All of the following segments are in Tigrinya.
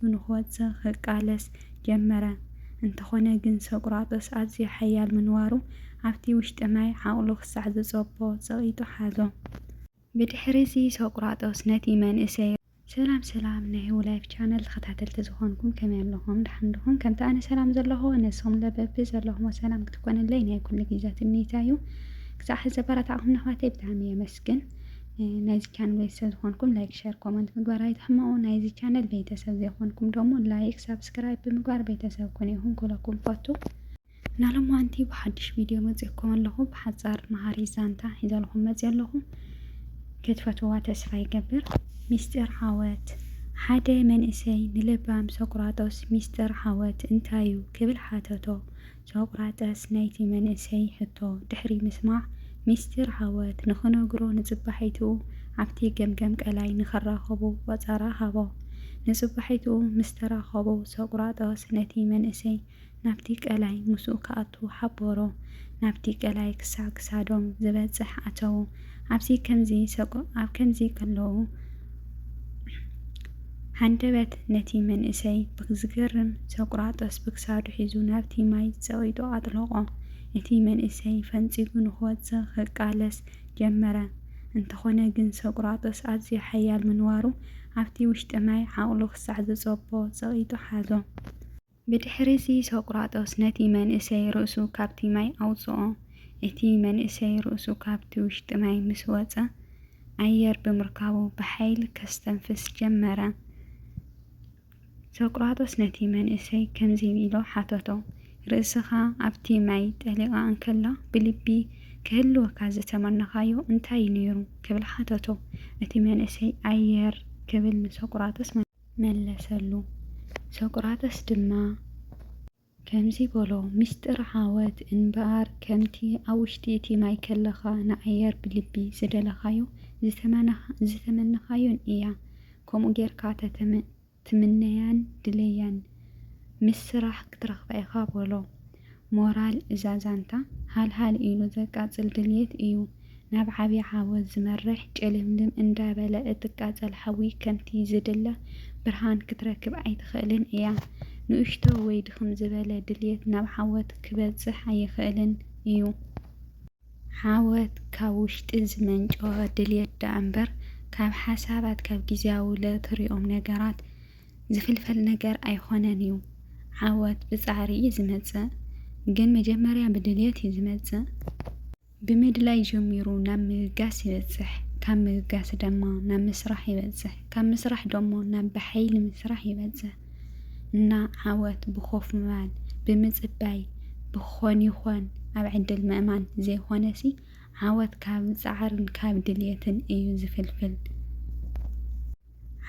ሸይጣኑ ንክወጽእ ክቃለስ ጀመረ። እንተኾነ ግን ሶቅራጦስ ኣዝዩ ሓያል ምንባሩ ኣብቲ ውሽጢ ማይ ዓቕሉ ክሳዕ ዝጸቦ ጸቒጡ ሓዞ። ብድሕሪ'ዚ ሶቅራጦስ ነቲ መንእሰይ። ሰላም ሰላም ናይ ህውላይፍ ቻነል ተኸታተልቲ ዝኾንኩም ከመይ ኣለኹም ደሓን ድኹም ከምቲ ኣነ ሰላም ዘለኹ ንስኹምለ በቢ ዘለኹሞ ሰላም ክትኮንለይ ናይ ኩሉ ግዘ ትምኒተይ እዩ ክሳዕ ሕዚ ዘበራታዕኹምኒ ኣሕዋተይ ብጣዕሚ የመስግን። ግን ናይዚ ቻነል ቤተሰብ ዝኾንኩም ላይክ ሸር ኮመንት ምግባር ኣይትሕመቑ። ናይዚ ቻነል ቤተሰብ ዘይኮንኩም ደሞ ላይክ ሳብስክራይብ ብምግባር ቤተሰብ ኩን ይኹን ክብለኩም ፈቱ። ናሎማንቲ ብሓድሽ ቪድዮ መፂእኩም ኣለኹ። ብሓፃር መሃሪ ዛንታ ሒዘልኹም መፂ ኣለኹ። ክትፈትዋ ተስፋ ይገብር። ሚስጢር ዓወት ሓደ መንእሰይ ንለባም ሶቅራጦስ ሚስጢር ዓወት እንታዩ ክብል ሓተቶ። ሶቅራጠስ ናይቲ መንእሰይ ሕቶ ድሕሪ ምስማዕ፣ ሚስጢር ዓወት ንኽነግሮ ንጽባሒትኡ ኣብቲ ገምገም ቀላይ ንኽራኸቡ ቆጸራ ሃቦ። ንጽባሒትኡ ምስ ተራኸቡ፣ ሶቅራጠስ ነቲ መንእሰይ ናብቲ ቀላይ ምስኡ ክኣቱ ሓበሮ። ናብቲ ቀላይ ክሳዕ ክሳዶም ዝበጽሕ ኣተዉ። ኣብዚ ከምዚ ሰቁ ኣብ ከምዚ ከለዉ ሃንደበት ነቲ መንእሰይ ብዝገርም ሰቁራጦስ ብክሳዱ ሒዙ ናብቲ ማይ ጸቂጡ ኣጥለቆ። እቲ መንእሰይ ፈንጺጉ ንክወጽእ ክቃለስ ጀመረ። እንተኮነ ግን ሰቁራጦስ ኣዝዩ ሓያል ምንባሩ ኣብቲ ውሽጢ ማይ ዓቅሉ ክሳዕ ዝጸቦ ጸቂጡ ሓዞ። ብድሕሪዚ ሶቅራጦስ ነቲ መንእሰይ ርእሱ ካብቲ ማይ ኣውጽኦ። እቲ መንእሰይ ርእሱ ካብቲ ውሽጢ ማይ ምስ ወጸ፣ ኣየር ብምርካቡ ብሓይሊ ከስተንፍስ ጀመረ። ሶቅራጦስ ነቲ መንእሰይ ከምዚ ኢሉ ሓተቶ፣ ርእስኻ ኣብቲ ማይ ጠሊቓ እንከላ ብልቢ ክህልወካ ዝተመነኻዮ እንታይ እዩ ነይሩ? ክብል ሓተቶ። እቲ መንእሰይ ኣየር ክብል ንሶቅራጦስ መለሰ። መለሰሉ። ሶቅራጠስ ድማ ከምዚ በሎ፣ ምስጢር ዓወት እንበኣር ከምቲ ኣብ ውሽጢ እቲ ማይ ከለኻ ንኣየር ብልቢ ዝደለኻዮ ዝተመነኻዮን እያ። ከምኡ ጌርካ ተትምነያን ድለያን ምስ ስራሕ ክትረኽባ ኢኻ በሎ። ሞራል እዛ ዛንታ ሃልሃል ኢሉ ዘቃጽል ድልየት እዩ ናብ ዓቢ ዓወት ዝመርሕ ጭልምልም እንዳ በለ እትቃጸል ሓዊ ከምቲ ዝድለ ብርሃን ክትረክብ ኣይትኽእልን እያ ንእሽቶ ወይ ድኽም ዝበለ ድልየት ናብ ዓወት ክበጽሕ ኣይኽእልን እዩ ዓወት ካብ ውሽጢ ዝመንጨወ ድልየት ደኣምበር ካብ ሓሳባት ካብ ግዝያዊ ለትሪኦም ነገራት ዝፍልፈል ነገር ኣይኾነን እዩ። ዓወት ብፃዕሪ እዩ ዝመፅእ ግን መጀመርያ ብድልየት እዩ ዝመፅእ። ብምድላይ ጀሚሩ ናብ ምብጋስ ይበፅሕ ካብ ምብጋስ ደማ ናብ ምስራሕ ይበፅሕ ካብ ምስራሕ ደሞ ናብ ብሓይሊ ምስራሕ ይበፅሕ እና ዓወት ብኮፍ ምባል ብምፅባይ ብክኾን ይኾን ኣብ ዕድል ምእማን ዘይኾነሲ ዓወት ካብ ፃዕርን ካብ ድልየትን እዩ ዝፍልፍል።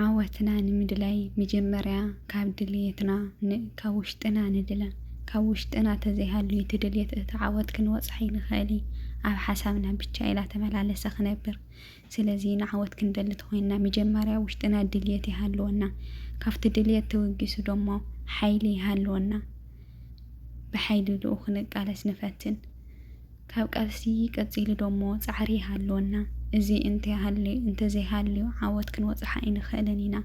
ዓወትና ንምድላይ መጀመርያ ካብ ድልየትና ን ካብ ውሽጥና ንድለ ካብ ውሽጥና ተዘይሃልዩ እቲ ድልየት እቲ ዓወት ክንበጽሖ ኣይንክእል እዪ ኣብ ሓሳብና ብቻ ኢላ ተመላለሰ ክነብር ስለዚ ንዓወት ክንደሊ ተኮይንና መጀመርያ ውሽጥና ድልየት ይሃልወና ካብቲ ድልየት ተበጊሱ ደሞ ሓይሊ ይሃልወና ብሓይሊ ድኡ ክንቃለስ ንፈትን ካብ ቃልሲ ቀጺሉ ደሞ ጻዕሪ ይሃልወና። እዚ እንተ ሃልዩ እንተ ዘይሃልዩ ዓወት ክንበጽሖ ኣይንኽእልን ኢና።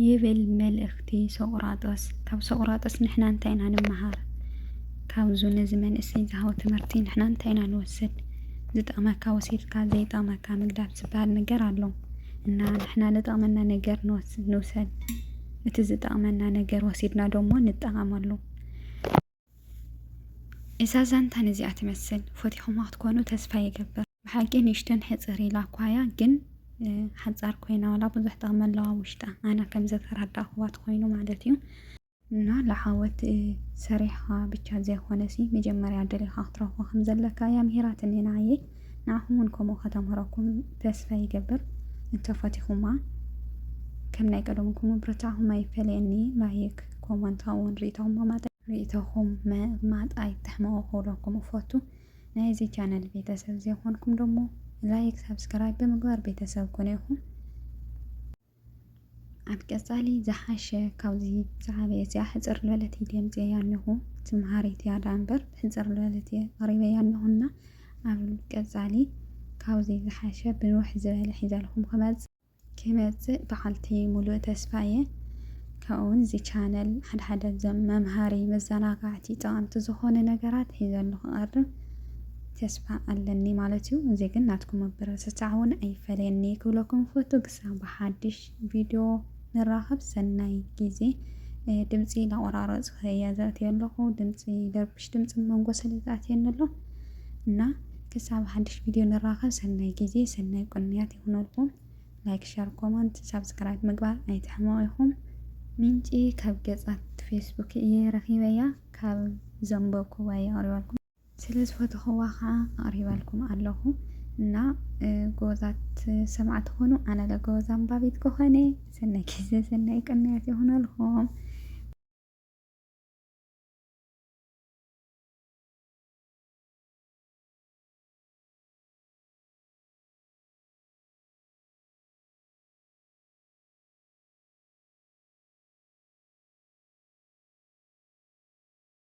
ይብል መልእኽቲ ሶቅራጦስ። ካብ ሶቅራጦስ ንሕና እንታይ ኢና ንመሃር? ካብዙ ነዚ መንእሰይ ዝሃቦ ትምህርቲ ንሕና እንታይ ኢና ንወስድ? ዝጠቅመካ ወሲድካ ዘይጠቅመካ ምግዳፍ ዝበሃል ነገር ኣሎ እና ንሕና ዝጠቅመና ነገር ንውሰድ። እቲ ዝጠቅመና ነገር ወሲድና ደሞ ንጠቀመሉ። እዛ ዛንታ ነዚኣ ትመስል ፈቲኹማ ክትኮኑ ተስፋ ይገብር። ብሓቂ ንእሽተን ሕፅር ኢላ ኳያ ግን ሓፃር ኮይና ዋላ ብዙሕ ጥቕሚ ኣለዋ ውሽጣ ኣነ ከም ዘተረዳእኹዋ ትኮይኑ ማለት እዩ እና ለዓወት ሰሪሕኻ ብቻ ዘይኮነሲ መጀመርያ ደሊኻ ክትረኽቦ ከም ዘለካ እያ ምሂራትኒ ንዓየ ንዓኹም ውን ከምኡ ከተምህረኩም ተስፋ ይገብር እንተ ፈቲኹማ ከም ናይ ቀደሙ ኩኑ ብርታዕኹም ኣይፈለየኒ ላይክ ኮመንት ውን ሪኢቶኹም መማጠ ሪኢቶኹም መማጥ ኣይትሕመቑ ክብለኩም እፈቱ ናይዚ ቻነል ቤተሰብ ዘይኮንኩም ደሞ ላይክ ሳብስክራይብ ብምግባር ቤተሰብ ኩኑ ኢኹም። ኣብ ቀፃሊ ዝሓሸ ካብዚ ዝዓበየ እዚኣ ሕፅር ዝበለት ቪድዮ ኣምፅኤያ ኣለኹ እቲ መሃሪት እያ ደኣ እምበር ሕፅር ዝበለት እየ ኣቕሪበያ ኣለኹና ኣብ ቀፃሊ ካብዚ ዝሓሸ ብንውሕ ዝበለ ሒዘልኩም ክመፅእ ክመፅእ በዓልቲ ሙሉእ ተስፋ እየ ካብኡውን እዚ ቻነል ሓደ ሓደ ዘም መምሃሪ መዘናጋዕቲ ጠቐምቲ ዝኾነ ነገራት ሒዘሉ ክቐርብ ተስፋ ኣለኒ ማለት እዩ እዚ ግን ናትኩም ምብርትታዕ እውን ኣይፈለየኒ ክብለኩም ፈቱ ክሳብ ብሓድሽ ቪድዮ ንራኸብ ሰናይ ግዜ ድምፂ ላቆራረፅ እየ ዘእትዮ ኣለኹ ድምፂ ደርብሽ ድምፂ መንጎ ስለ ዝኣትየኒ ኣሎ እና ክሳብ ሓድሽ ቪድዮ ንራኸብ ሰናይ ግዜ ሰናይ ቁንያት ይኹነልኩም ላይክ ሸር ኮመንት ሳብስክራይብ ምግባር ኣይትሕመቑ ኢኹም ምንጪ ካብ ገጻት ፌስቡክ እየ ረኺበያ ካብ ዘንበብኩዋ እየ ኣቕሪበልኩም ስለ ዝፈተኹዋ ኸኣ ኣቕሪበልኩም ኣለኹ እና ጎበዛት ሰማዕቲ ኹኑ። ኣነ ለ ጎበዝ ኣንባቢት ክኾነ ሰናይ ግዜ ሰናይ ቅንያት ይኹነልኩም።